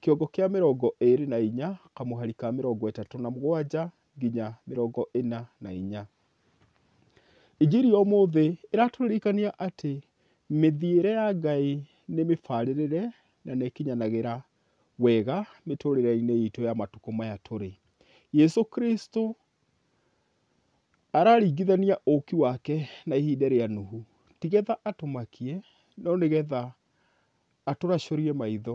kĩongo kĩa mĩrongo ĩĩrĩ na inya, kamũhari ka mĩrongo ĩtatũ na mũgwanja nginya mĩrongo ĩna na inya. Injiri ya ũmũthĩ ĩratũririkania atĩ mĩthiĩre ya Ngai nĩ mĩbarĩrĩre na nĩ ĩkinyanagĩra wega mĩtũrĩre-inĩ itũ ya matukũ maya tũrĩ. Jesũ Kristũ araringithania ũũki wake na ihinda rĩa Nuhu, ti getha atũmakie no nĩ getha Atũracũrie maitho.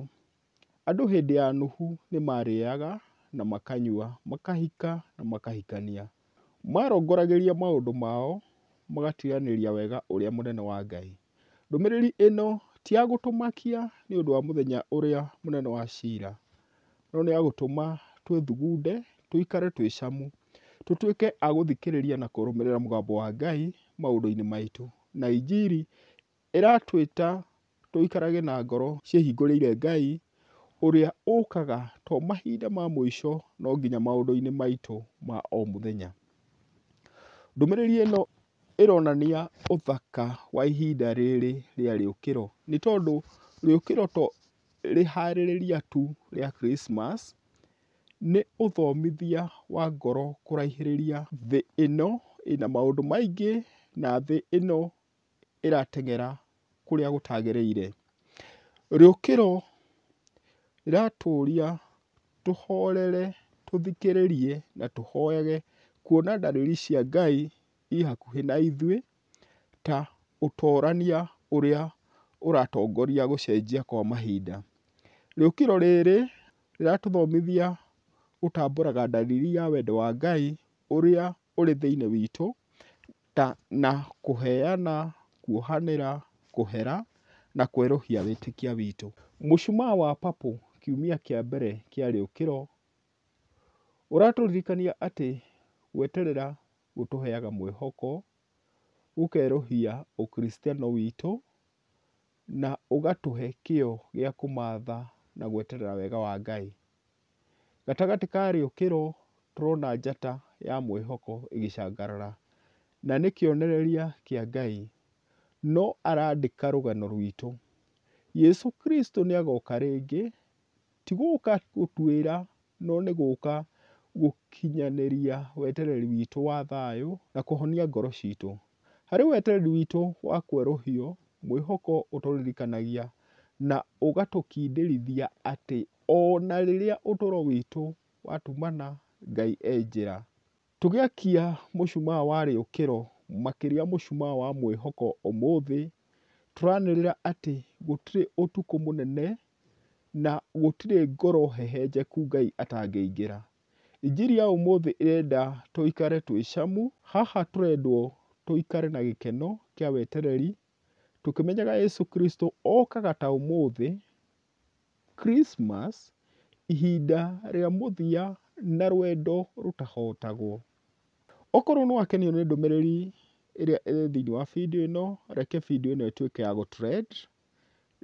Andũ hĩndĩ ya Nuhu nĩ maarĩaga na makanyua, makahika na makahikania. Maarongoragĩria maũndũ mao, magatuanĩria wega ũrĩa mũnene wa Ngai. Ndũmĩrĩri ĩno ti ya gũtũmakia nĩ ũndũ wa mũthenya ũrĩa mũnene wa cira, no nĩ ya gũtũma twĩthugunde, tũikare twĩ camu, tũtuĩke a gũthikĩrĩria na kũrũmĩrĩra mũgambo wa Ngai maũndũ-inĩ maitũ, na injiri Ĩratwĩta tũikarage na ngoro ciĩhingũrĩire Ngai, ũrĩa ũkaga to mahinda ma mũico no nginya maũndũ-inĩ maitũ ma o mũthenya. Ndũmĩrĩri ĩno ĩronania ũthaka wa ihinda rĩrĩ rĩa rĩũkĩro, nĩ tondũ rĩũkĩro to rĩharĩrĩria tu rĩa Christmas, nĩ ũthomithia wa ngoro kũraihĩrĩria thĩ ĩno ĩna maũndũ maingĩ na thĩ ĩno ĩrateng'era kũrĩa gũtagĩrĩire. Rĩũkĩro rĩratũria tũhorere, tũthikĩrĩrie na tũhoyage kuona ndariri cia Ngai i hakuhĩ na ithuĩ ta ũtorania ũrĩa ũratongoria gũcenjia kwa mahinda. Rĩũkĩro rĩrĩ rĩratũthomithia gũtambũraga ndariri ya wendo wa Ngai ũrĩa ũrĩ thĩiniĩ witũ ta na kũheana, kuohanĩra, kũhera, na kwerũhia wĩtĩkia witũ. Mũcumaa wa papũ kiumia kĩa mbere kĩa rĩũkĩro ũratũririkania atĩ gweterera gũtũheaga mwĩhoko, gũkerũhia ũkristiano witũ, na ũgatũhe kĩo gĩa kũmatha na gweterera wega wa Ngai. Gatagatĩ karĩo kĩro tũrona njata ya mwĩhoko ĩgĩcangarara, na nĩ kĩonereria kĩa Ngai no arandĩka rũgano rwitũ. Yesu Kristo nĩ agoka rĩngĩ, ti gũka gũtuĩra no nĩ gũka gũkinyanĩria wetereri witũ wa thayũ na kũhonia ngoro citũ. Harĩ wetereri witũ wa kwerũhio, mwĩhoko ũtũririkanagia na ũgatũkindĩrithia atĩ Ona rĩrĩa ũtũro witũ watumana Ngai e njĩra. Tũgĩakia mũcumaa wa rĩũkĩro makĩria mũcumaa wa mwĩhoko ũmũthĩ, tũranĩrĩra atĩ gũtirĩ ũtukũ mũnene na gũtirĩ ngoro hehenjeku Ngai atangĩingĩra. Injiri ya ũmũthĩ ĩrenda tũikare twĩ camu, haha tũrendwo tũikare na gĩkeno kĩa wetereri, tũkĩmenyaga Yesu Kristo okaga ta ũmũthĩ. Christmas, ihinda rĩa mũthia na rwendo rũtahotagwo. Okorwo nĩ wakenio nĩ ndũmĩrĩri ĩrĩa ĩrĩ thĩiniĩ wa video ĩno, reke video ĩno ĩtuĩke ya gũ trend,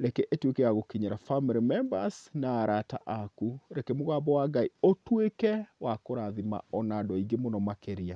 reke ĩtuĩke ya gũkinyĩra family members na arata aku. Reke mũgambo wa Ngai ũtuĩke wa kũrathima ona andũ aingĩ mũno makĩria.